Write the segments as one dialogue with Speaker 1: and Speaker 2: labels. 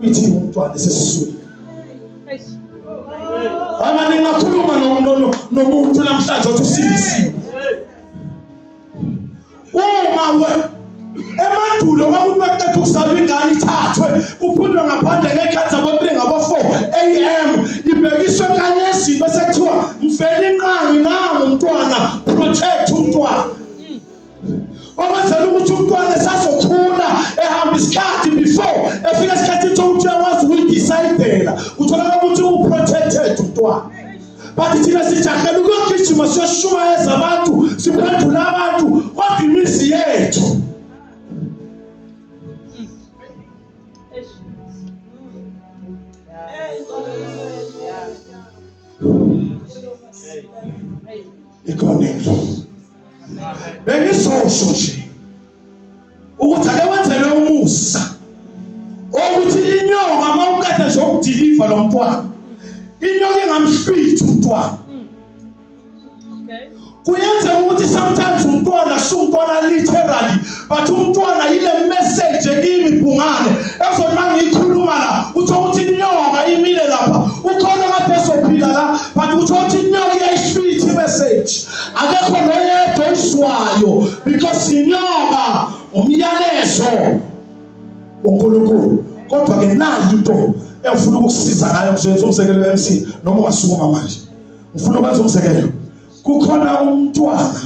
Speaker 1: ithi umntwana esesiswini Mama ningakhuluma nomuntu namhlanje othi usindisiwe. Uma we emandulo kwakuthi baqeda ukuzalwa ingane ithathwe kuphundwe ngaphandle ngekhathi ababili ngabo-four am ibhekiswe kanyezini bese kuthiwa mfela inqangi nangu umntwana protect umntwana Okwenzela ukuthi umntwana esazokhula ehamba isikhathi before efika isikhathi ukuthi ukuthi uyakwazi ukuyidecidela utholakala ukuthi uprotected umntwana but thina sijahela ukuyogijima siyoshumayeza abantu siphendula abantu kodwa imizi yethu Hey. Hey. Hey. bengizosho nje ukuthi ake wenzelwe umusa ukuthi inyonga uma ukade nje ukudiliva lo mntwana inyonga ingamhlwitha umntwana kuyenzeka ukuthi sometimes umntwana sumntwana literally but umntwana yile message kimi bhungane ezothi mangiyikhuluma la utho ukuthi inyoka imile lapha ukhona kade ezophila la but utho ukuthi inyoka iyayifitha imessage akekho noyedwa oyizwayo because inyoka umyalezo uNkulunkulu kodwa ke nayo into engifuna ukukusiza ngayo ngizoyenza umzekelo MC noma ungasukuma manje ngifuna ukwenza umzekelo kukhona umntwana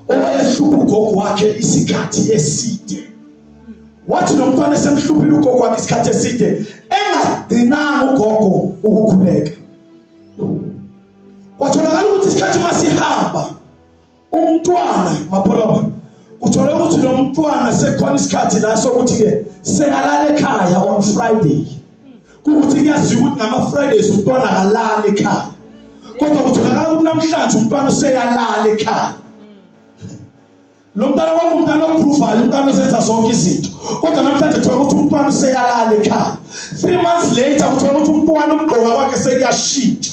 Speaker 1: owayehlupha ugogo wakhe isikhathi eside wathi lo mntwana esemhluphile ugogo wakhe isikhathi eside engadinanga ugogo ukukhuleka kwatholakala ukuthi isikhathi masihamba umntwana mapholoba uthole ukuthi lo mntwana sekhona isikhathi la sokuthi-ke sekalala ekhaya on friday kukuthi kuyaziwa ukuthi ngama-fridays umntwana akalala ekhaya kodwa kutholakala ukuthi namhlanje umntwana useyalala ekhaya lo mntwana wami umntwana opruvayo umntwana osenza zonke izinto kodwa namhlanje thola ukuthi umntwana useyalala ekhaya three months later kuthola ukuthi umntwana umgqoka kwakhe sekuyashintsha